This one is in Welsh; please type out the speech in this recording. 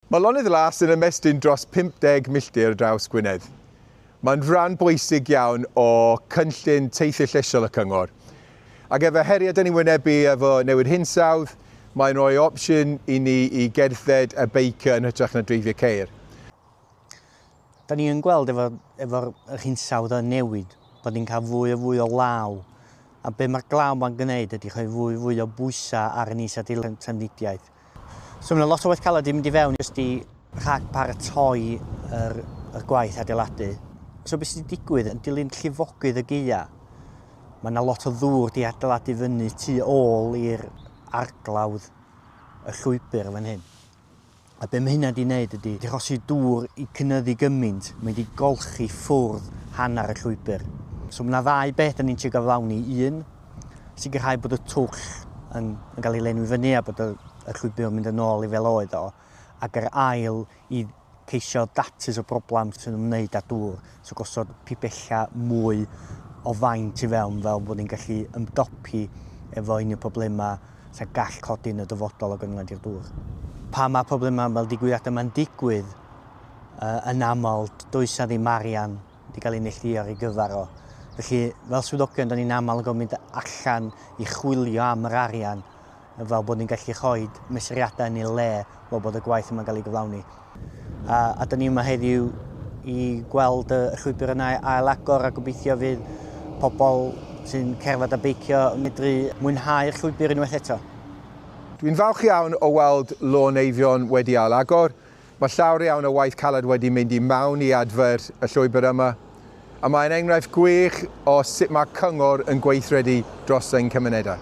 Mae Lonydd Las yn ymestyn dros 50 milltir draws Gwynedd. Mae'n rhan bwysig iawn o cynllun teithio llesiol y cyngor. Ac efo heriau dyn ni'n wynebu efo newid hinsawdd, mae'n rhoi opsiwn i ni i gerdded a beicio yn hytrach na dreifio ceir. Da ni yn gweld efo'r efo yr hinsawdd yn newid, bod ni'n cael fwy a fwy o law, a be mae'r glaw ma'n gwneud ydy rhoi fwy a fwy o bwysau ar yn is-adeilad trafnidiaeth. So mae yna lot o waith caled wedi mynd i fewn jyst i rhag paratoi yr, yr gwaith adeiladu. So beth sydd wedi digwydd, yn dilyn llifogydd y gaea, mae yna lot o ddŵr wedi adeiladu fyny tu ôl i'r arglawdd y llwybr fan hyn. A be mae hynna 'di wneud ydy, 'di achosi dŵr i cynyddu gymaint, mae 'di golchi ffwrdd hanner y llwybr. So mae 'na ddau beth da ni'n trio gyflawni, un, sicrhau bod y twll yn, yn cael ei lenwi fyny a bod y, y llwybr yn mynd yn ôl i fel oedd o, ac yr ail i ceisio datrys y broblem sy'n ymwneud â dŵr. So gosod pibella mwy o faint i fewn fel bod ni'n gallu ymdopi efo unrhyw problemau sy'n gall codi yn y dyfodol o gyngor i'r dŵr. Pan mae problemau fel digwyddiadau yma'n digwydd, uh, yn aml does ddim arian wedi cael ei neillduo ar ei gyfer o. Felly, fel swyddogion, da ni'n aml yn gofyn allan i chwilio am yr arian fel bod ni'n gallu rhoi mesuriadau yn eu lle fel bod y gwaith yma'n cael ei gyflawni. A, a dyn ni yma heddiw i gweld y llwybr yna ail agor a gobeithio fydd pobl sy'n cerdded a beicio yn medru mwynhau'r llwybr unwaith eto. Dwi'n falch iawn o weld Lôn Eifion wedi ail agor. Mae llawer iawn o waith caled wedi mynd i mewn i adfer y llwybr yma, a mae'n enghraifft gwych o sut mae cyngor yn gweithredu dros ein cymunedau.